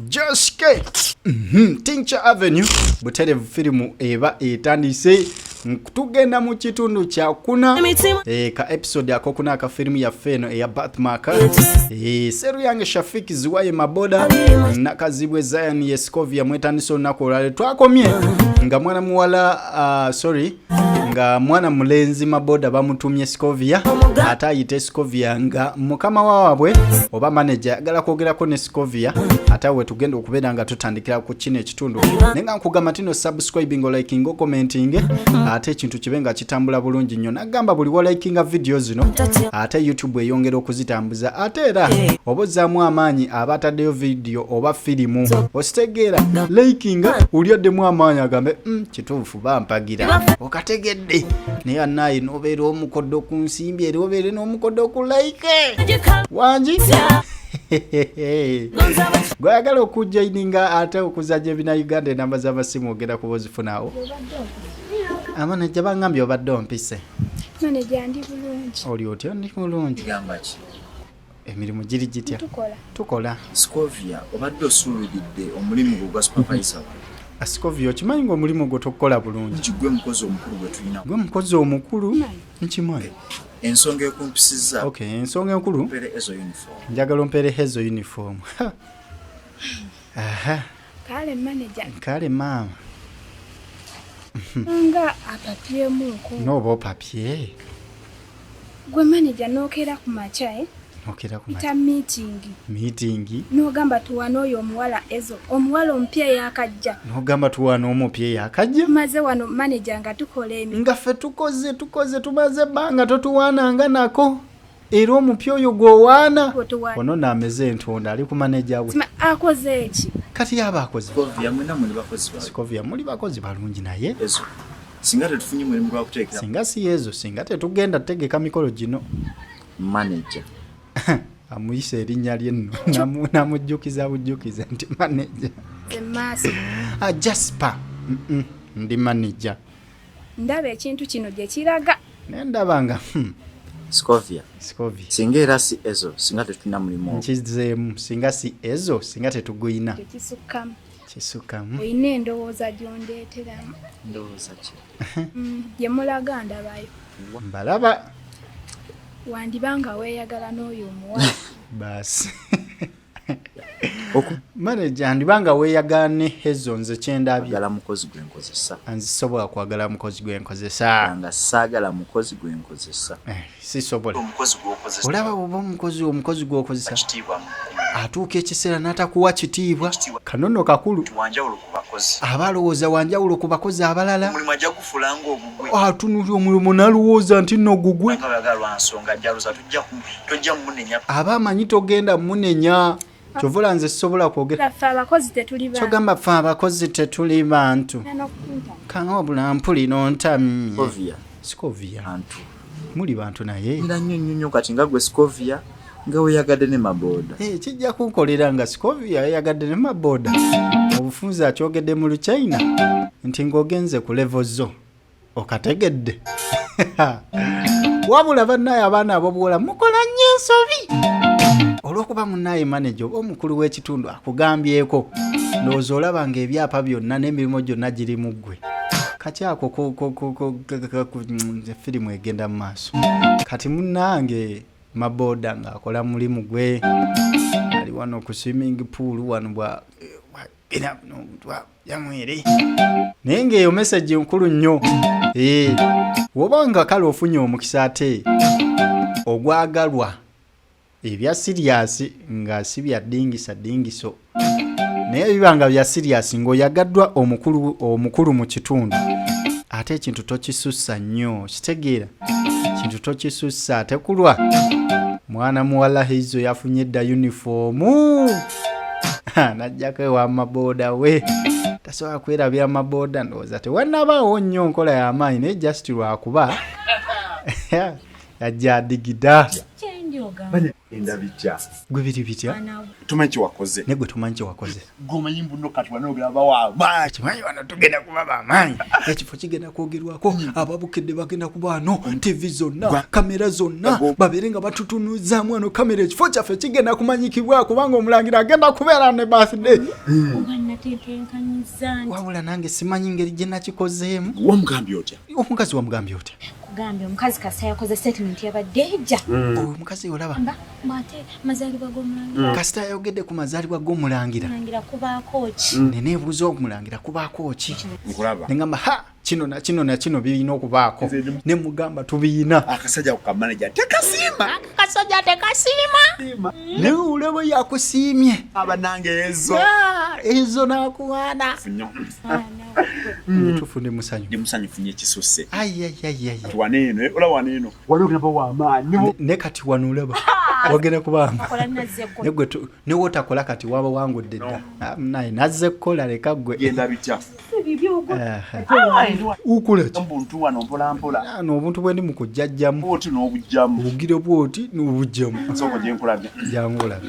Just get. Mm -hmm. Tincture Avenue buterevu firimu eba etandise tugenda mu kitundu kyakuna e, ka episode akokuna aka firimu yaffe eno eya batmaka e, eh, seru yange shafiki ziwaye maboda nakazibwe zion yescovia mwetandise olunaku olwale twakomye nga mwana muwala uh, sorry nga mwana mulenzi maboda bamutumye scovia ate ayite scovia nga mukama wawabwe oba manaja agala kwogerako ne scovia ate awe tugenda okubeera nga tutandikira ku kino ekitundu naye nga nkugamba tino subscribing oliking okomenting ate ekintu kibe nga kitambula bulungi nnyo nagamba buli walikinga vidiyo zino ate youtube eyongera okuzitambuza ate era oba ozzaamu amaanyi aba ataddeyo vidiyo oba firimu ositegeera likinga ulyoddemu amaanyi agambe mm, kituufu oba mpagira okategedde naye anaye nobeera omukodo ku nsimbi era obeere n'omukodo ku like wangi gwayagala okujaininga ate okuzanya ebina uganda enamba z'amasimu ogenda kuba ozifunawo amanajja bangambye obadde ompise oli otya ndi mulungi emirimu giri gitya tukola scovia obadde osuuliridde omulimu gwo gwa supervisa wa scovia okimanyi nga omulimu gwo tokukola bulungi kigwe mukozi omukulu gwetulina gwe mukozi omukulu nkimanyi ensonga ekumpisiza ok ensonga enkulu njagala ompeere hezo uniform aha Kale manager. Kale maama. Nga apapye muko. No bo papye. Gwe manager nokera ku macha eh. Nokera ku macha. meeting. Meeting. No gamba tuwana oyo omuwala ezo. Omuwala ompye yakajja. No gamba tuwana omupye yakajja. Maze wano manager nga tukola emi. Nga fe tukoze tukoze tumaze banga totuwana nga nako. era omupya oyo gwowaana onona ameze entonda ali kumaneja we akoze eki kati yaba akozekovia muli bakozi balungi naye singa tetufunye mulimu gwakuteekera singa si yezo singa tetugenda tutegeka mikolo gino manaja amuyisa erinnya lye nno namujjukiza bujjukiza nti manaja ajaspa ah, ndi manaja ndaba ekintu kino gye kiraga naye ndaba nga hmm. scovia scovia singa era si ezo singa tetulina mulimu nkizeemu singa si ezo singa tetuguyina tekisukkamu kisukkamu olina endowooza gyondeeteramu ndowooza ki mm, gye mulaga ndabayo mbalaba wandiba nga weeyagala n'oyo omuwala baasi maneja ndiba nga weeyagaana ne hezo nze kyendabyagala mukozi gwe nkozesa nzisobola kwagala mukozi gwe nkozesa nga saagala mukozi gwe nkozesa eh, sisobola olaba oba omukozi omukozi gwokozesa atuuka ekiseera n'atakuwa kitiibwa kanono kakulu aba alowooza wanjawulo ku bakozi abalala atunulira omulomo nalowooza nti no gugwe aba amanyi togenda munenya kyovola nze sisobola kwogerakyogamba fe abakozi tetuli bantu kanga wabula mpulira ontamye sikovia muli bantu naye era nnyo nnyo nnyo kati nga gwe scovia nga weyagadde ne mabooda eh, kijja kunkolera nga scovia yayagadde ne mabooda obufunzi akyogedde mu luchina nti ng'ogenze ku levo zo okategedde wabula bannaye abaana abobuwola mukola nnyo ensobi olw'okuba munnaye maneja oba omukulu w'ekitundu akugambyeko ndowooza olaba ng'ebyapa byonna n'emirimu gyonna giri mu ggwe kati ako firimu egenda mu maaso kati munange maboda ng'akola mulimu gwe ali wano ku swimming pool wano bwa yamwere naye ng'eyo mesagi nkulu nnyo ee woba nga kale ofunye omukisa ate ogwagalwa ebya siriyasi nga si bya ddingisa ddingiso naye biba nga bya siriyasi ng'oyagaddwa omukulu omukulu mu kitundu ate ekintu tokisussa nnyo kitegeera ekintu tokisussa ate kulwa mwana muwala hizo yafunye edda yunifoomu najjako ewa mabooda we tasobola kwerabira mabooda ndowooza tewanabaawo nnyo nkola y'amaanyi naye just lwakuba ajja digida gwe biri bitya tumanyi kyewakoze naye gwe tumanyi kyewakoze gomanyi mbuno kati wanogera bawamaanyi kimanyi wano tugenda kuba bamaanyi ekifo kigenda kwogerwako hmm. ababukedde bagenda kubaano hmm. tivi zonna kamera zonna babeere nga batutunuzaamu ano kamera ekifo kyaffe kigenda kumanyikibwa kubanga omulangira agenda kubeera ne birthday hmm. wabula nange simanyi ngeri gye nakikozeemu wamugambye otya omukazi wamugambye otya kugambye omukazi kasita yakoze statement yabadde ejja mm. oyo omukazi olaba ate mazalibwa gomulangira mm. kasita yayogedde ku mazalibwa gomulangira kubaako ki mm. nene ebuuza omulangira kubaako ki nengamba ha kino na kino na kino birina okubaako ne mugamba tubiyina akasajja kukamaneja tekasiima akasajja tekasiima naye olaba yakusiimye abanange ezo ah, ezo nakuwaana mutufu ndi musanyu ndi musanyu funye kisuse tuwane eno eh, ola wane eno wali ogenda wa amaanyi ne kati wano olaba wagenda kuba negwe ne wotakola kati waba wangudde dda ah, naye nazze kukola leka gwe genda bitya nobuntu bwendi mukujjajjamu obugire bwoti nobujjamu jangu olabe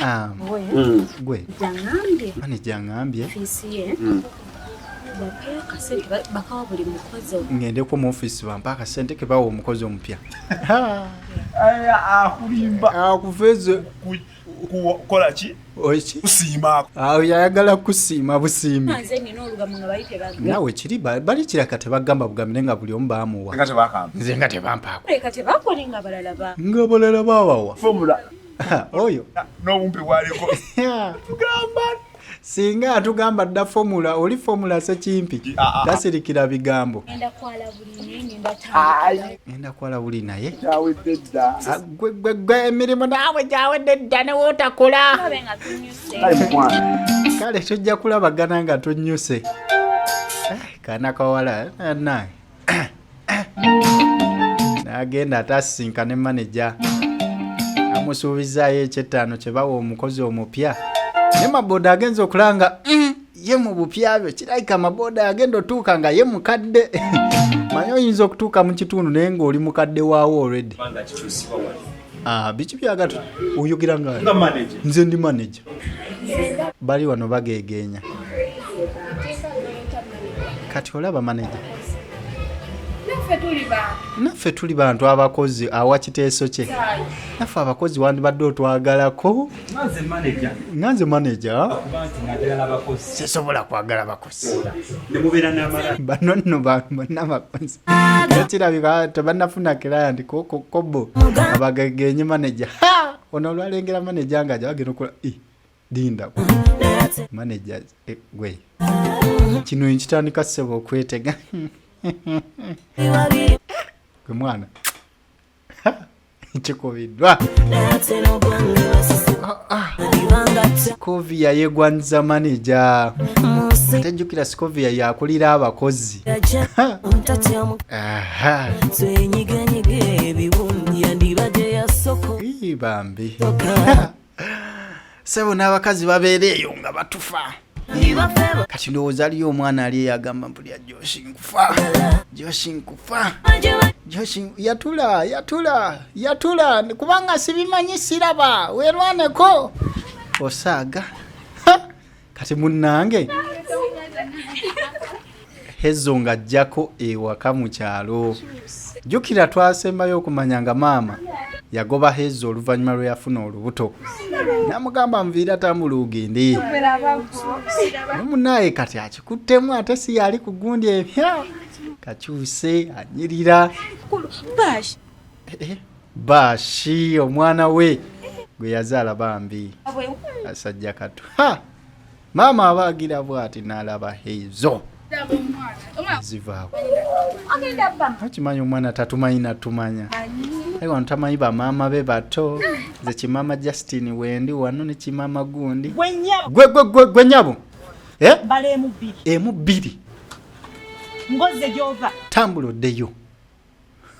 Ah, mm. gwe ani jangambye mm. ngendeko mu ofisi bampa akasente kebawa omukozi omupya akuveze kukolaki kusiimaako awo yayagala kusiima busiimi nawe kiri bali kiraka tebagamba bugambire nga buli omu bamuwa nze nga tebampaako nga balala bawawa oyo n'obumpi bwaliko tugamba singa atugamba dda fomula oli fomula sekimpi ah, ah. tasirikira bigambo enda kwala buli naye ah, gwe emirimu naawe gyawedde dda newootakola kale tujja kulabagana nga tunyuse eh, kana kawala eh, naye n'agenda ate asisinkane maneja amusuubizaayo ekyettaano kye bawa omukozi omupya naye maboda agenza okulanga mm, ye mu bupya byo kirabika maboda agenda otuuka nga ye mukadde manyi oyinza okutuuka mu kitundu naye ng'oli mukadde waawo olredi Ah, biki byagatu oyogera nga nze ndi manaja bali wano bagegeenya kati olaba manaja naffe tuli bantu abakozi awa kiteeso kye naffe abakozi wandibadde otwagalako nga nze manaja sisobola kwagala bakozi nemubeera namala bano nno bantu bonna bakozi kirabika tebanafuna client kobo abagegenye manager ono olwalengera manager nga jawagenda okola dinda manager e, gwe kino nkitandika sebo okwetega gwe mwana kikubiddwa scovia yegwanyiza maneja atajjukira scovia yakulira abakozi bambi sebo n'abakazi babeera eyo nga batufa kati ndowooza aliyo omwana ali eyagamba mbu lya joshi nkufa joshi nkufa joshi yatula yatula yatula kubanga sibimanyi siraba werwaneko osaaga kati munnange hezo nga ajjako ewaka mu kyalo jjukira twasembayo okumanya nga maama yagoba hezo oluvannyuma lwe yafuna olubuto namugamba nviira tambula ogende munaye kati akikuttemu ate si yali ku gundi ebya kakyuse anyirira eh, eh. bashi omwana we gwe yazaala bambi asajja katu ha maama abaagira bwati nalaba heizo zivaako akimanyi omwana tatumanyi natumanya aye wano tamanyi bamaama be bato ze kimama justin wendi wano ne kimama gundi gwe nyabo eh? emu bbiri tambula oddeyo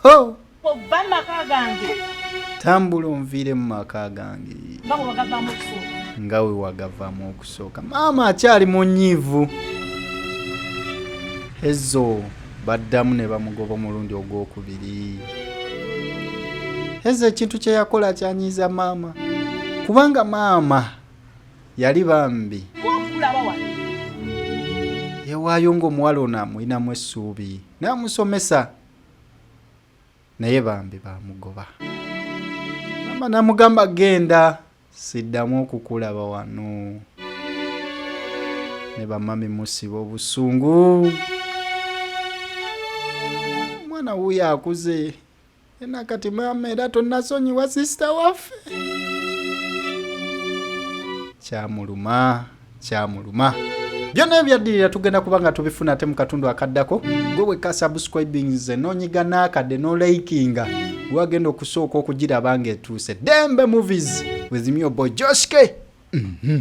oh! ova maka gange tambula onviire mu maka gange nga we wagavamu okusooka maama akyali mu nyiivu hezo baddamu ne bamugoba omulundi ogwokubiri hezo ekintu kye yakola kyanyiiza maama kubanga maama yali bambi yewaayo ng'omuwala ono amulinamu essuubi namusomesa naye bambi bamugoba mama namugamba genda siddamu okukulaba wano ne bamami musiba obusungu omwana wuyo akuze ena kati maama era tonasonyiwa sisita waffe kyamuluma kyamuluma byonna ebyaddirira tugenda kuba nga tubifuna ate mu katundu akaddako gwe wekka subscribings nonyiga n'akadde nolayikinga wagenda okusooka okugiraba nga etuuse dembe movies with myobo joske mm -hmm.